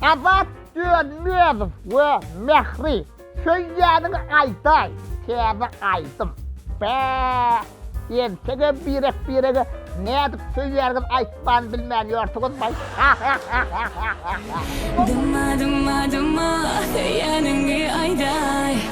Azat Dönmezow we Mähri söýýäniňi aýdaý täze aýdym. Bä! Entege birek birege nädip söýýäniňizi aýtman bilmän ýörsiňiz baý hahahahahaha. Dyma dyma dyma söýýäniňi aýdaý.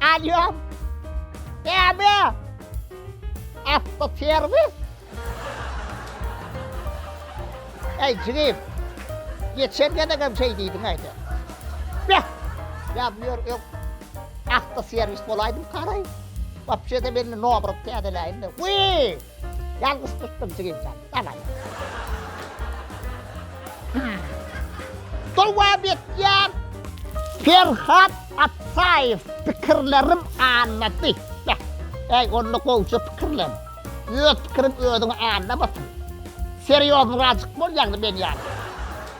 Alýo. Näme? Awtoserwis? Eý, jigim. Geçen gezek hem şeý diýdiň aýda. Beh! Ýa bu ýer öň awtoserwis bolaýdym, garaý. Wapşe-de meni nobrat täzeläýin-de. Wiý! Ýalňyş tutdum jigim jan. Daway. Dowam etýär. Perhat Atsaýew pikirlerim aňlady. Beh, äý onda gowja pikirlen. Öz pikiriň özüňi aňlamasyn. Serýoznyrajyk bol ýagny men ýaly.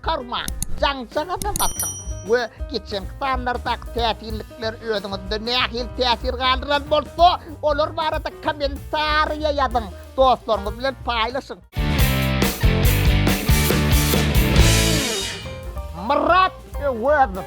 Karma, jaňça gazap atyň we geçenki sanlardaky täsinlikler özüňizde nähili täsir galdyran bolsa, olar barada kommentariýa ýazyň, dostlaryňyz bilen paýlaşyň! Myrat Öwezow,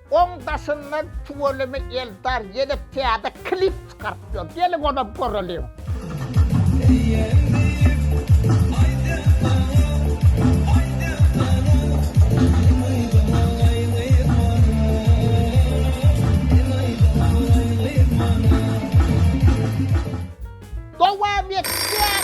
Oň daşyndan tüweleme Eldar ýene täze klip çykarypdyr. Geliň onam göreliň. Dowam etýär.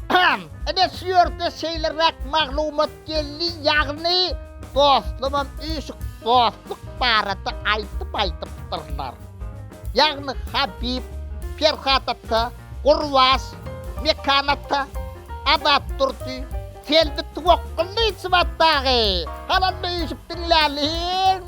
Pam, ine şu ýerde şeýleräk maglumat geldi, ýagny dostlamam üýşüp dostluk barada aýdym aýdypdyrlar. Ýagny Habib, Perhat ata, Gurbaş, Mekan ata, Azat Durdy, Selbi Twokgullyýewa dagy. Galanda üýşüp diňläliň.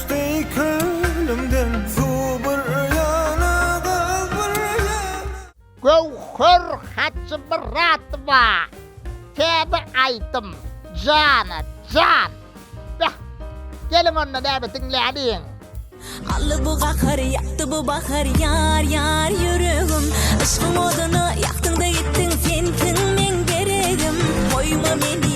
Göwher Hajymyradowa Täze aýdym Jana jan Beh Geliň onda näme diňläliň. Aldy bu gahar ýakdy bu bahar ýar ýar ýüregim Yşkyň odyna ýakdyňda gitdiň sen kiň meň deregim Goýma meni.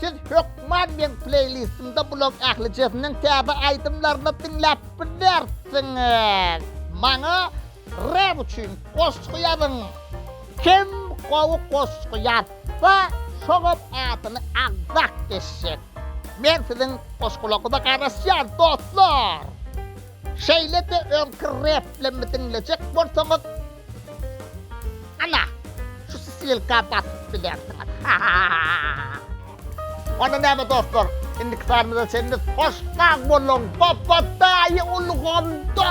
Siz hökman meň pleýlistimde bulan ählijesiniň täze aýdymlaryny diňläp bilersiňiz. Maňa rap üçin goşgy ýazyň. Kim gowy goşgy ýazsa, şoňam adyny agzap geçjek. Men siziň goşgularyňyza garaşýan dostlar. Şeýle-de öňki replimi diňlejek bolsaňyz, Ana, şu ssylka basyp bilersiňiz. Onda näme dostlar, indiki sanymyza çenli hoş sag boluň, Babadaýy ulgamda!